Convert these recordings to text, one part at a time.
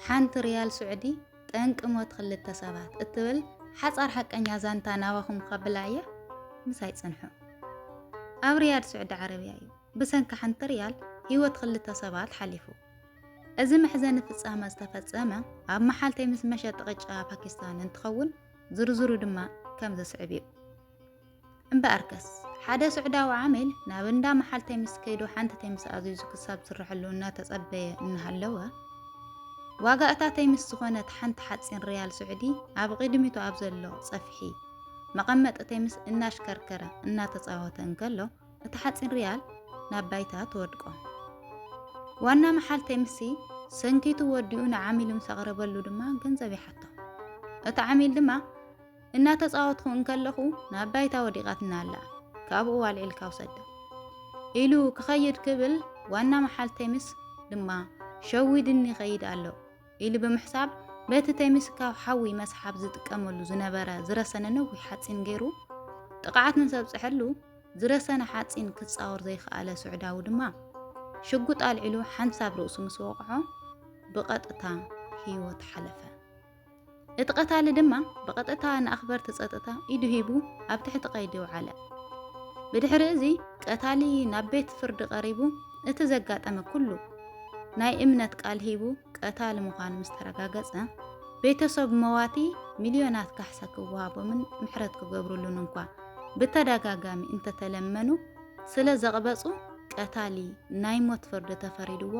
ሓንቲ ሪያል ስዑዲ ጠንቂ ሞት ክልተ ሰባት እትብል ሓጻር ሓቀኛ ዛንታ ናባኹም ከብላ እየ ምሳይ ጽንሑ ኣብ ሪያድ ስዑዲ ዓረብያ እዩ ብሰንኪ ሓንቲ ሪያል ህይወት ክልተ ሰባት ሓሊፉ እዚ መሕዘኒ ፍጻመ ዝተፈጸመ ኣብ መሓልተይ ምስ መሸጢ ቅጫ ፓኪስታን እንትኸውን ዝርዝሩ ድማ ከም ዝስዕብ እዩ እምበኣርከስ ሓደ ሱዕዳዊ ዓሚል ናብ እንዳ መሓልተይ ምስ ከይዱ ሓንቲ ተይ ምስ ኣዚዙ ክሳብ ዝስረሐሉ እናተጸበየ እናሃለወ ዋጋ እታ ተይ ምስ ዝኾነት ሓንቲ ሓጺን ሪያል ስዑዲ ኣብ ቕድሚቱ ኣብ ዘሎ ጸፍሒ መቐመጢ ተይ ምስ እናሽከርከረ እናተጻወተ እንከሎ እቲ ሓጺን ሪያል ናብ ባይታ ትወድቆ ዋና መሓል ተይ ምስ ሰንኪቱ ወዲኡ ንዓሚሉ ምስ ኣቕረበሉ ድማ ገንዘብ ይሓቶ እቲ ዓሚል ድማ እናተጻወትኩ እንከለኹ ናብ ባይታ ወዲቓትና ኣላ ካብኡ ዋልዒልካ ውሰዳ ኢሉ ክኸይድ ክብል ዋና መሓል ቴሚስ ድማ ሸዊድኒ ይኸይድ ኣሎ ኢሉ ብምሕሳብ በቲ ቴሚስ ካብ ሓዊ መስሓብ ዝጥቀመሉ ዝነበረ ዝረሰነ ነዊሕ ሓፂን ገይሩ ጥቕዓት ንሰብፅሐሉ ዝረሰነ ሓፂን ክፃወር ዘይከኣለ ስዑዳዊ ድማ ሽጉጥ ኣልዒሉ ሓንሳብ ርእሱ ምስ ወቕዖ ብቐጥታ ህይወት ሓለፈ። እቲ ቀታሊ ድማ ብቐጥታ ንኣኽበርቲ ጸጥታ ኢዱ ሂቡ ኣብ ትሕቲ ቀይዲ ውዓለ። ብድሕሪ እዚ ቀታሊ ናብ ቤት ፍርዲ ቀሪቡ እቲ ዘጋጠመ ኩሉ ናይ እምነት ቃል ሂቡ ቀታሊ ምዃኑ ምስ ተረጋገጸ ቤተሰብ መዋቲ ሚልዮናት ካሕሳ ክወሃቦምን ምሕረት ክገብርሉን እንኳ ብተደጋጋሚ እንተተለመኑ ስለ ዘቕበጹ ቀታሊ ናይ ሞት ፍርዲ ተፈሪድዎ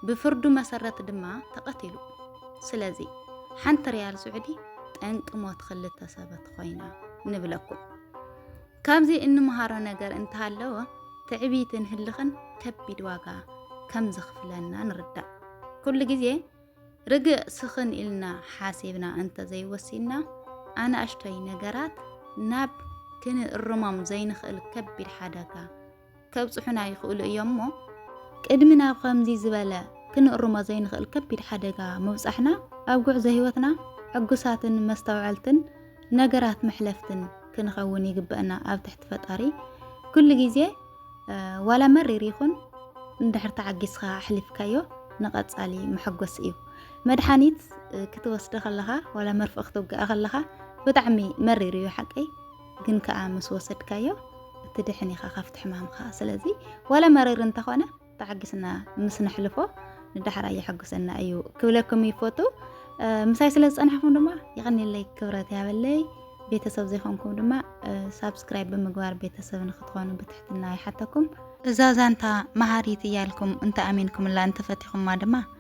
ብፍርዱ መሰረት ድማ ተቐቲሉ። ስለዚ ሓንቲ ሪያል ስዑዲ ጠንቂ ሞት ክልተ ሰበት ኮይና ንብለኩም። ካብዚ እንምሃሮ ነገር እንተሃለወ ትዕቢትን ህልኽን ከቢድ ዋጋ ከም ዘኽፍለና ንርዳእ። ኩሉ ግዜ ርግእ ስኽን ኢልና ሓሲብና እንተዘይወሲንና ኣናእሽቶይ ነገራት ናብ ክንእርሞም ዘይንኽእል ከቢድ ሓደጋ ከብጽሑና ይኽእሉ እዮም እሞ ቅድሚ ናብ ከምዚ ዝበለ ክንእርሞ ዘይንኽእል ከቢድ ሓደጋ ምብጻሕና ኣብ ጉዕዞ ህይወትና ዕጉሳትን መስተውዐልትን ነገራት መሕለፍትን ክንኸውን ይግበእና ኣብ ትሕቲ ፈጣሪ ኩሉ ግዜ ዋላ መሪር ይኹን እንድሕር ተዓጊስኻ ኣሕሊፍካዮ ንቐጻሊ መሐጎሲ እዩ መድሓኒት ክትወስደ ከለኻ ዋላ መርፍእ ክትውግኣ ከለኻ ብጣዕሚ መሪር እዩ ሓቀይ ግን ከኣ ምስ ወሰድካዮ እትድሕን ኢኻ ካብቲ ሕማምካ ስለዚ ዋላ መሪር እንተኾነ ተዓጊስና ምስ ነሕልፎ ንዳሕራ የሐጉሰና እዩ ክብለኩም ይፈቱ ምሳይ ስለ ዝፀናሕኩም ድማ ይቐኒለይ ክብረት ያበለይ ቤተሰብ ዘይኮንኩም ድማ ሳብስክራይብ ብምግባር ቤተሰብ ንክትኾኑ ብትሕትና ይሓተኩም እዛ ዛንታ መሃሪት እያልኩም እንተ ኣሚንኩምላ እንተፈቲኹማ ድማ